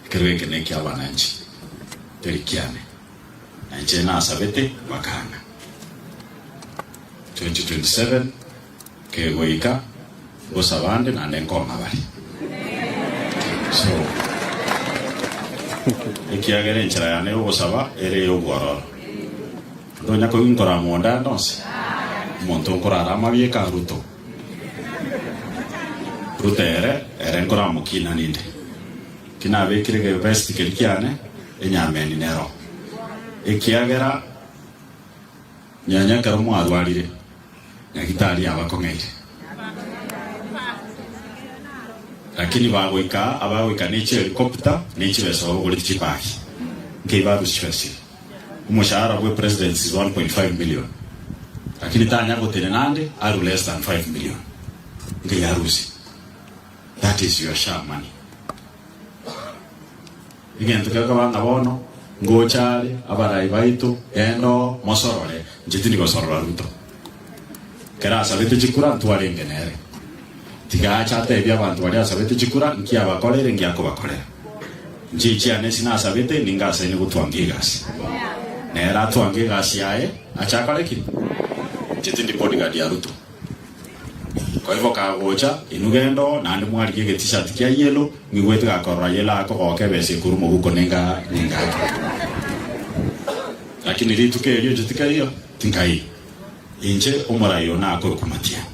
Ekero eke neki'abananchi, teri kiane, na inche nasabete bakang'a. 2027 kegoika ngosaba nde naende nkong'a bare. So ekiagera enchera yane y'ogosaba ere ey'obwororo. Tonya koyuntora amo onde ande onsi. Omonto nkorara amabieka a Ruto. Ruto ere, ere nkoramokina ninde. Ki nabekire ge vest keri kiane, enyameni nero. Ekiagera nyanya ekero mwarwarire, nyagitari yabakong'eire. Lakini bagoika aa, abagoika ne chi helicopter ne chibesa babagoretie chibagi. Nkei barusia esiri. Omoshahara bwe presidents is 1.5 million lakini tanya gotenena ande aru less than 5 million nge yarusi that is your sha money egento kekaba nga bono ngocha are abarai baito genda oo mosorore nche tindi gosorora Ruto. Ekero asabete chikura intwe arenge nere. Tiga ache atebie abanto baria asabete chikura inki abakoreire inki akobakorera. Inche inchiane esi nasabete ninge asaine gotwangia egasi. Nere atwange egasi yaye ache akore ki? Inche tindi bodyguard ya Ruto. Koiboka agocha, inwe genda oo, naende mwarigie ege T-shirt kia yellow, mwigwe tiga akorora yellow ake ogoka ebesa ekorwa mobuko ninga ninga ake. Lakini rituko erio inche tikariyo. Nkai, inche omorai one akorokwa Matiani.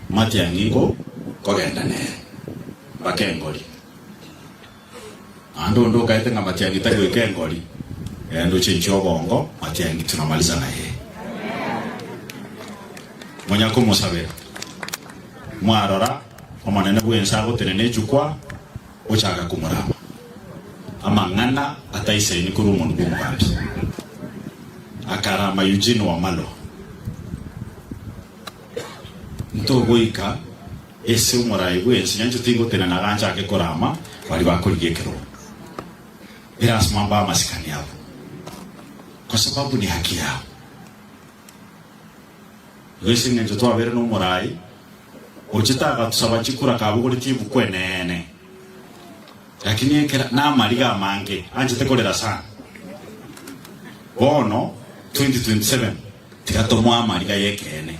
Matiani ingo kogenda nere, mbake engori. Naende onde okaete ng'a Matiani tari goika engori, rende oche inche obongo, Matiani tunamaliza na yeye. Monya komosabera, mwarora, omonene bw'ense agotenena echukwa. Gochaka komorama amang'ana ataisaini korwa omonwa bw'omobambi, akarama Eugene Wamalwa, Ntogoika ase omorai bw'ense, nyanchete tigotenena iga nchake korama baria bakorigia ekerogo erasima mbae amasikani abo, kosababu ni haki yabo. Ase engencho twabeire nomorai gochia tagatosaba chikura kabogoretie ebuku eneene. Lakini ekero namariga amange anchete korera sana. Bono 2027 tiga tomoe amariga yekeene.